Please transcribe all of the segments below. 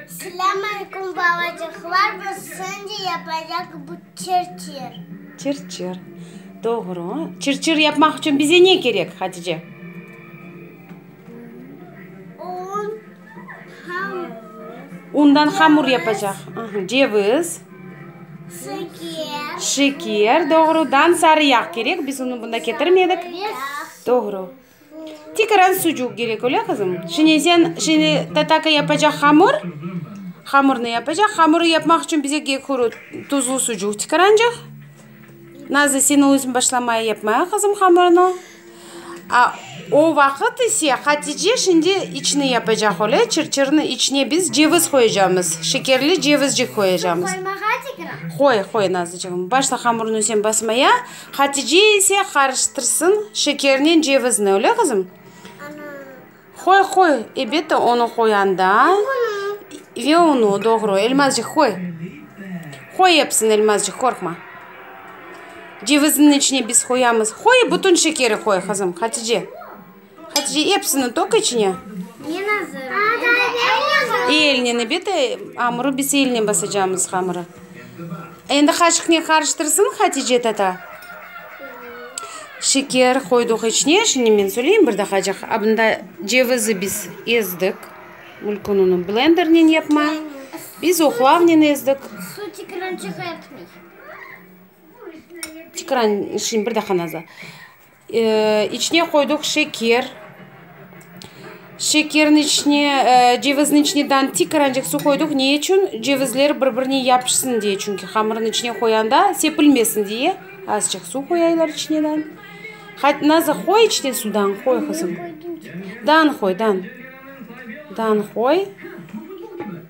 Selâm aleykum balacıqlar, biz şimdi yapacaq bu çırçır. Çırçır. Doğru. Çırçır yapmaq içün bize ne kerek, Hatice? Un, hamur. Undan hamur yapacaq. Aha, ceviz. Şeker. Şeker, doğrudan sarı yağ kerek, biz unı bunda ketirmedik. Doğru. Tikeran sucuq gerek öyle qızım? Şine sen şine tataka yapacaq hamur, hamurnı yapacaq, hamurı yapmaq içün bize gehuru tuzlu sucuq tikerancıq. Nazı seni özün başlamaya yapmaya qızım hamurnı. A o vaqıt ise Hatice şimdi içini yapacaq öyle, çır çırnı içine biz ceviz qoyacağımız, şekerli cevizcik qoyacağımız. Qoy qoy Nazıcığım başla hamurnı sen basmaya. Hatice ise qarıştırsın şekernen cevizni, öyle, qızım? Qoy, qoy, elbette, onı qoyanda ve unu, doğru, elmazcıq qoy. Qoy epsini, elmazcıq, qorqma. Cevizniñ içine biz qoyamız. Qoy, bütün şekeri qoy, qızım, Hatice. Hatice, epsini toq içine. Men azır. Endi eline nebet amuru biz elinen basacamız hamırı. Endi qaşıqnen qarıştırsın Hatice tata. Şeker qoydıq içine. Şimdi men söyleyim bir daqacık. Abında cevizi biz ezdik. Mülkün onı blendernen yapma. Biz oqlavnen ezdik. Su tikran çıqartmay. Tikran şimdi bir daqa nazar. İçine qoydıq şeker. Şekerniñ içine, cevizniñ içine dantik qırancıq suv qoydıq. Ne içün? Cevizler bir-birine yapışsın diye. Çünki hamırnıñ içine qoyanda sepilmesin diye. Azcıq suv qoyaylar içine dan. Nazır, qoy içine suv dan, qoy qızım. Dan qoy, dan. Dan qoy.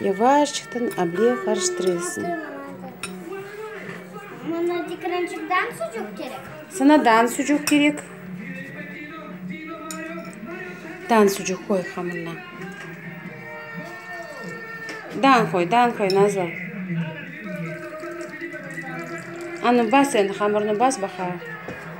Yavaşçıqtan able qarıştırıysıñ. Mına tikrançıqdan sucuq kerek. Sana dan sucuq kerek. Dan sucuq qoy hamırına. Dan qoy, dan qoy, Nazlı. Anı bas endi, hamırını bas baqa.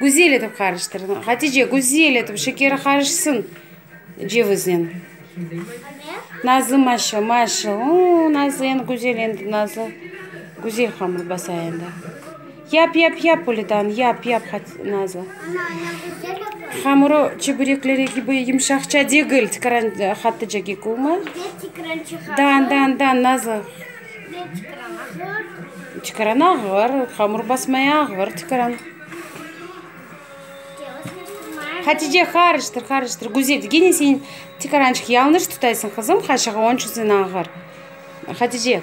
Güzel etip qarıştır. Hatice, güzel etip şekeri qarışsın ceviznen. Nazlı Maşa, Maşa, ooo, Nazlı endi güzel endi, Nazlı güzel hamır basa endi. Yap, yap, yap, Polidano, yap, yap, Nazlı. Hamırı çeberekleri kibi yımşaqça degil, tikiran, Hatice, kik olma. Da, da, da, Nazlı. Sizden çıqıran ağır. Çıqıran ağır, hamur basmaya ağır çıqıran. Hatice, qarıştır, qarıştır. Güzel, gene sen çıqırançıq yanlış tutaysın, qızım, qaşığı, onıñ içün sen ağır. Hatice.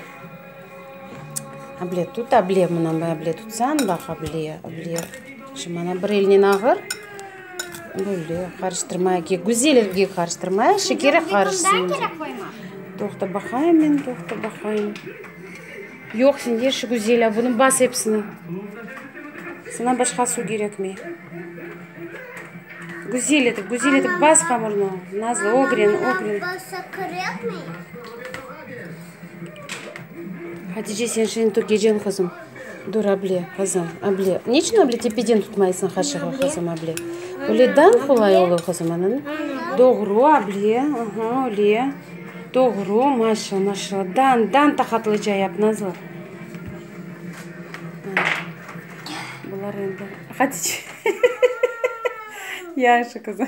Able tut, able, mına able tutsan, bax, able, able. Şimdi, ana, bir elnen ağır. Böyle qarıştırmaya kerek. Güzel elge qarıştırmaya, şekeri qarışsın. Toqta baqayım men, toqta baqayım. Yoq, sen yerşi Güzel, a bunı bas episini. Sana başqa suv kerekmey. Güzel etip, güzel etip bas hamırnı. Nazlı, ogren, ogren. Hatice, sen şimdi gecen qızım. Dur, able, qızım, able. Ne içün able tepeden tutmaysıñ qaşığı, qızım, able? Öyle dañ qolay olur, qızım, ana. Doğru, able, aha, öyle. Doğru, maşa, maşa. Dañ, dañ taqatlıca yap, Nazlı. Bular endi, Hatice. Yahşı, qızım.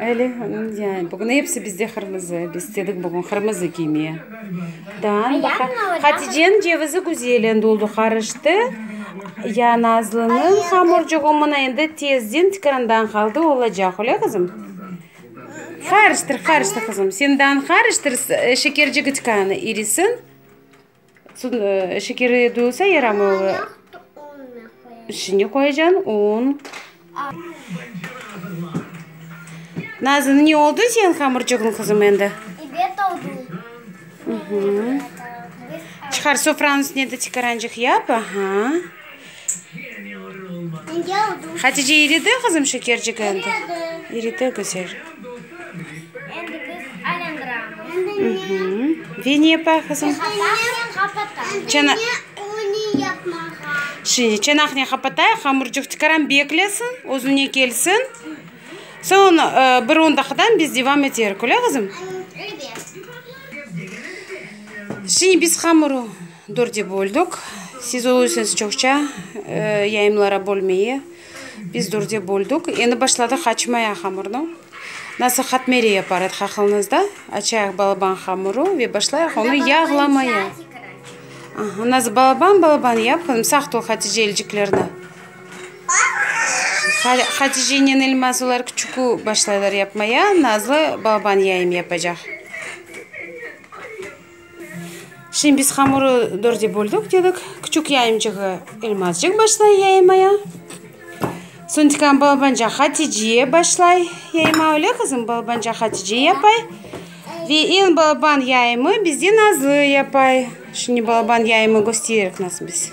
Öyle, bugün episi bizde qırmızı, biz istedik bugün qırmızı kiymeye. Dağın baqa, Haticeniñ cevizi güzel endi oldu, qarıştı. Ya Nazlınıñ hamurcuğı mına endi tezden tikandan qaldı, olacaq, öyle qızım? Qarıştır, qarıştır, qızım, sen dağın qarıştır, şekercigi tikanı erisin. Soñ şekeri duyulsa yaramay ola. İçine qoyacan un. Nazan, ne oldı señ hamırçığıñ, qızım, endi? İbet oldı. Çıqar, sofranıñ üstüne de çıqarancıq yap. Aha. Hatice iridi qızım şekercik endi? İridi güzel. Endi biz aylandıramız. Ve ne yapay qızım? Çana Şimdi çanaqnı qapatay, hamurcıq tikaram beklesin, özüne kelsin. Soñ bir on daqıdan biz devam eterik, öyle qızım? Şimdi biz hamuru Dörde böldük. Siz oluysiñız çoqça yayımlara bölmeye, biz dörde böldük. Endi başladıq açmaya hamurnı. Nasıl katmeri yapar edik aqılınızda? Açayıq balaban hamuru ve başlayıq onı yağlamaya. Aha, nazı balaban balaban yap qızım, saq tur Hatice elciklerni. Haticenen Elmaz olar küçükü başlaylar yapmaya, Nazlı balaban yayım yapacaq. Şimdi biz hamurı dörde böldük dedik. Küçük yayımcığı Elmazcıq başlay yaymaya. Soñ tikan balabanca Hatice başlay yayma, öyle qızım? Balabanca Hatice yapay. Ve en balaban yayımı bizde Nazlı yapay. Şimdi balaban yayımı gösteririk nasıl biz.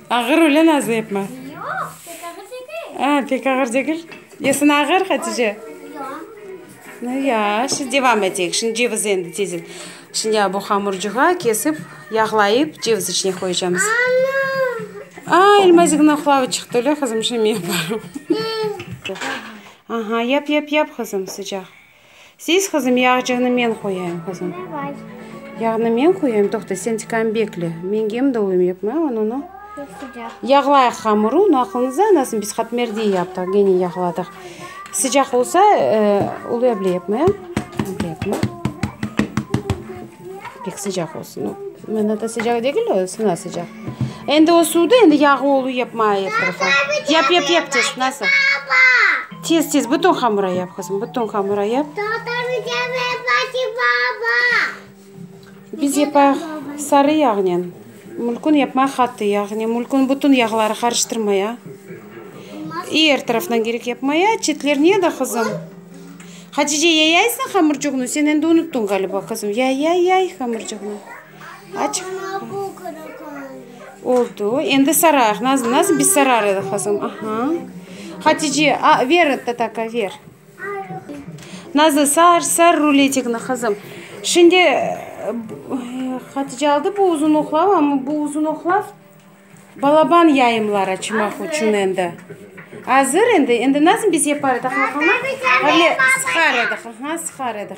Ağır öyle nazlı yapma. Yoq, pek ağır degil. A, pek ağır degil. Yesine ağır Hatice? Yoq. Nu ya, şimdi devam eteyik. Şimdi cevizi endi tezden. Şimdi ya bu hamurcuğa kesip, yağlayıp, ceviz içine qoyacağımız. Ana! A, Elmazigniñ oqlavı çıqtı, öyle qızım? Şimdi men yaparım. Aha, yap, yap, yap, qızım, sıcaq. Siz, qızım, yağcığını men qoyayım, qızım. Davay. Yağnı men qoyayım, toqta, sen tikan bekle. Men gem dolayım, yapmay onunı. Sıcaq. Yağlayıq hamırı, onı aqlınızda anasın, biz qatmerdiy yaptıq, gene yağladıq. Sıcaq olsa, ıı, uluyable yapmay, ıble yapma. Pek sıcaq olsun o. Mına da sıcaq degil o, sına sıcaq. Endi o suvda endi yağı olu yapma er tarafa. Yap, yap, yap tez, nasıl? Tez, tez, bütün hamura yap, qızım, bütün hamura yap. Biz yapaq sarı yağnen. Mülkün yapma hattı, yağnı mülkün bütün yağları qarıştırmaya, i er taraftan gerek yapmaya, çetler nede, qızım? Hatice, yayaysıñ hamırcuğnı? Sen endi unuttıñ ğaliba, qızım, yay, yay, yay hamırcuğnı. Aç. Oldu, endi sarayıq, nazım, nazım, biz sarar edik, qızım, aha. Hatice, a, ver, Tatarka, ver. Nazlı, sar, sar ruletikni, qızım. Şimdi, Hatice aldı bu uzun oqlav, amma bu uzun oqlav balaban yayımlar açmaq içün endi. Azır endi. Endi nasıl biz yapar edik vaqamı? Avle sıqar ediq, aha, sıqar ediq.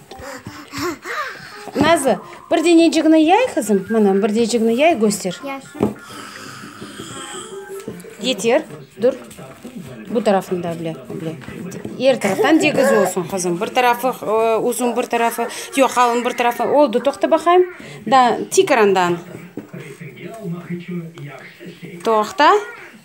Nazı, bir denecikni yay qızım, mına, bir denecikni yay, köster. Yeter, dur. Bu tarafını da bile, bile. Er taraftan tegiz olsun, qızım. Bir tarafı ıı, uzun, bir tarafı, yoq, qalın, bir tarafı. Oldu, toqta baqayım. Da, tikrandan. Toqta.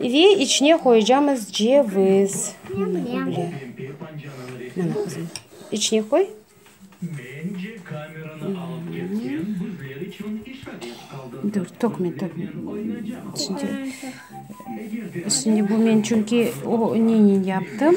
Ve içine qoyacamız ceviz. İçine qoy. Dur, tökme, tökme. Şimdi bu men çünki o neynen yaptım.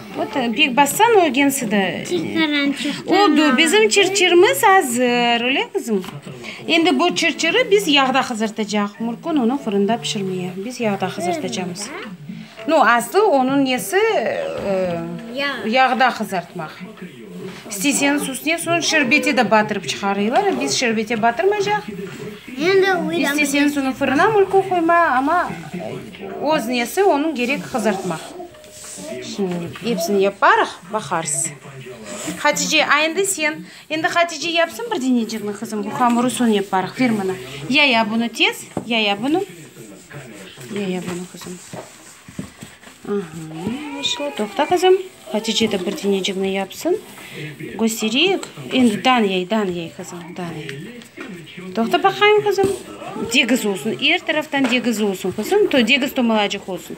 Pek bassan o gensi de. Çıqtaran, çıqtaran. Oldu, bizim çırçırımız azır, öyle qızım? Endi bu çırçırı biz yağda qızartacaq. Murkun onı fırında pişirmeye, biz yağda qızartacamız. No, aslı onıñ nesi, yağda qızartmaq. İsteseñiz, üstüne soñ şerbeti de batırıp çıqarıylar, biz şerbete batırmaycaq. İsteseñiz, onı fırına murkun qoyma, amma öz nesi, onıñ gerek qızartmaq. Şimdi epsini yaparıq, baqarız. Hatice, a endi sen? Endi Hatice yapsın bir denecikni, qızım, bu hamurı soñ yaparıq, ver mına. Yaya bunı tez, yaya bunı. Yaya bunı, qızım. Aha, vıshlo, toqta, qızım. Hatice de bir denecikni yapsın. Göstereyik. Endi dan yay, dan yay, qızım, dan yay. Toqta baqayım, qızım. Degiz olsun, er taraftan degiz olsun, qızım, degiz tomalacıq olsun.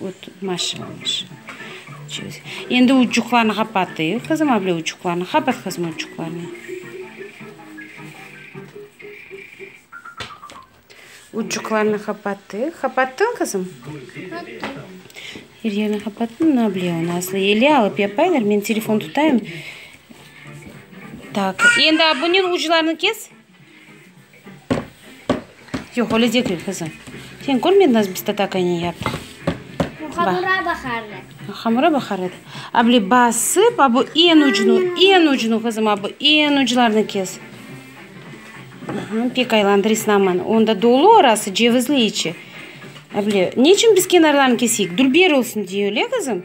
O't, maşa, maşa. Endi uçuqlarnı qapatıy, qızım, avle uçuqlarnı. Qapat, qızım, uçuqlarnı. Uçuqlarnı qapatıy. Qapattın, qızım? Er yerni qapattın? Na, avle, onı aslı ele alıp yapaylar. Men telefon tutayım. Tak, endi abunen uclarını kes. Yoq, öyle degil, qızım. Sen körmedin, nasıl biz tatakaynen yaptıq? Bu hamura baqar edi. Hamura baqar edi. Abile basıp, abu en ucunu, en ucunu, qızım, abu en uclarını kes. Pek aylandır, isnaman. Onda dolu orası, cevizli içi. Abile, ne içün biz kenarlarını keseyik? Dülber olsun diye, öyle, qızım?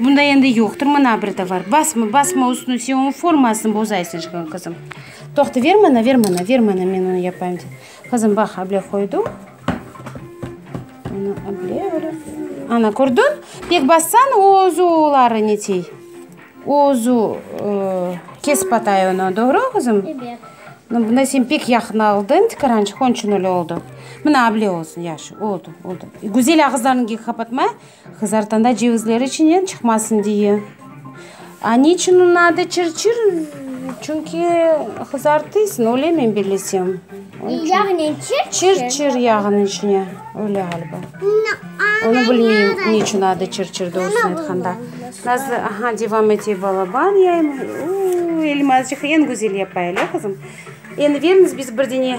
Bunda endi yoqtır mına bir tovar. Basma, basma üstüne, sen onıñ formasını bozaysıñ şimdi, qızım. Toqta, ver mana, ver mana, ver mana, men onı yapayım, dedi. Qızım, bax, able qoydı. Ana, able, öyle. Ana, kördiñ? Pek bassañ, o özü oları netey. O özü ıı, kesip atay onı. Doğru, qızım? Ebet. No, bunda sen pek yaqın aldıñ tikarançıq, onun içün öyle oldı. Mına, able olsun, yaşı, oldı, oldı. Güzel ağızlarıñı kapatma. Qızartanda cevizler içinden çıqmasın diye. A niçün onıñ adı çırçır? Çünki qızartıysıñ, öyle men bilesem. Yağnen çırçır? Çırçır yağınıñ içine, öyle ğaliba. Onı bilmeyim, niçün adı çırçır doğrusını aytqanda. Nazlı, aha, devam ete, balaban yayım. Uuu, Elmazcıq eñ güzel yapay, ele qızım? Endi beriñiz biz bir dene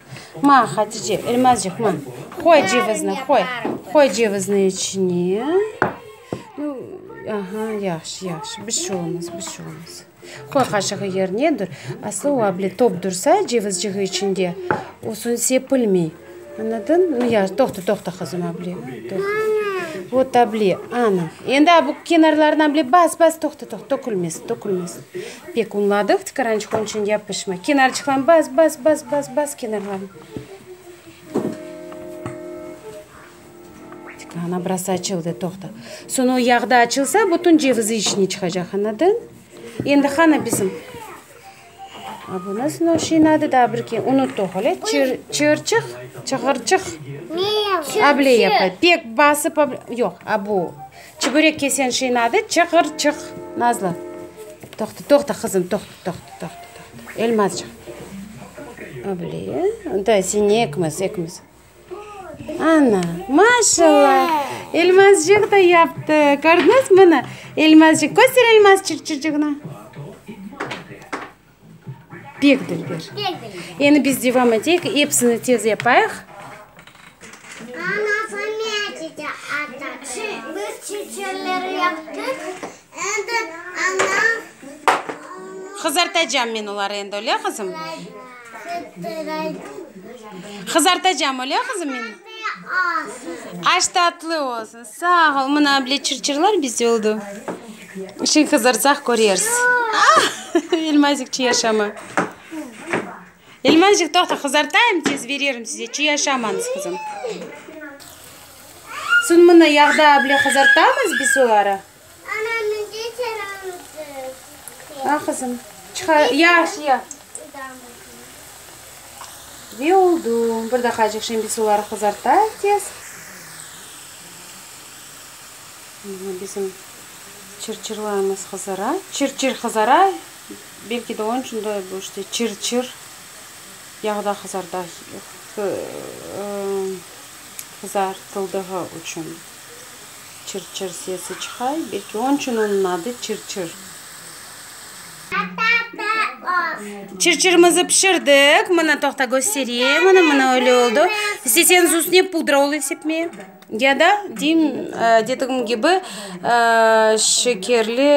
Ma, Hatice, elmazcıq, ma, qoy cevizni, qoy, qoy cevizni içine. Nu, aha, yahşı, yahşı, bir şey olmaz, bir şey olmaz. Qoy qaşığı yerine, dur, aslı o able top dursa cevizciği içinde, o soñ sepilmey. Anladın? Nu, ya, toqta, toqta, qızım, able, toqta. Vot, able, ana, endi a bu kenarlarına able bas, bas, toqta, toqta, tökülmesin, tökülmesin. Pek unladıq tıqırançıq onçün yapışma kenarçıqlarnı bas bas bas bas bas kenarlarnı Tıkla ana burası açıldı toqta soñ o yağda açılsa bütün cevizi içine çıqacaq anladın endi qana bizim A bu nasıl noşin adı da bir ke unuttuq öyle çır çırçıq çığırçıq able yapay pek basıp yoq a bu Çübürek kesen şeyni adı Çıqırçıq. Nazlı, toqta, toqta, qızım, toqta, toqta, toqta, toqta. Elmazcıq. Öbli, ında seni ekimiz, ekimiz. Ana, maşalla, Elmazcıq da yaptı. Kördiñizmi bunı? Elmazcıq, köster Elmazçıqçıqnı. Pek dilber. Endi biz devam eteyik, epsini tez yapayıq. Qızartacam men oları endi, öyle qızım? Qızartacam, öyle qızım, men? Aş tatlı olsun. Sağ ol. Mına, bile, çır-çırlar bizde oldu. İşin qızartsaq köreriz. Elmazik çiy aşamı. Elmazik toqta qızartayım tez bererim size çiy aşamañız qızım. Soñ mına yağda able qızartamız biz oları. A qızım çıqa yahşı ya. Ve oldu bir daqacıq şimdi biz oları qızartayıq tez. Mına bizim çırçırlarımız qızara. Çırçır qızara, belki de onıñ içün de bu işte çırçır yağda qızarda, qızartıldığı içün çırçır sesi çıqay, belki onıñ içün onıñ adı çırçır. Çırçırımızı pişirdik. Mına toqta, köstereyim. Mına, mına öyle oldu. İsteseñiz üstüne pudra olıp sepmeye. Ya da, deyim, dedigim kibi, şekerli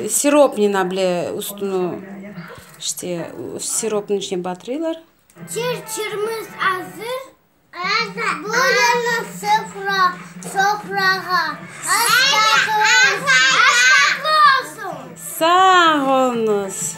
siropnıña bile üstüni, işte, siropnıñ içine batırılar. Sağ oluñız!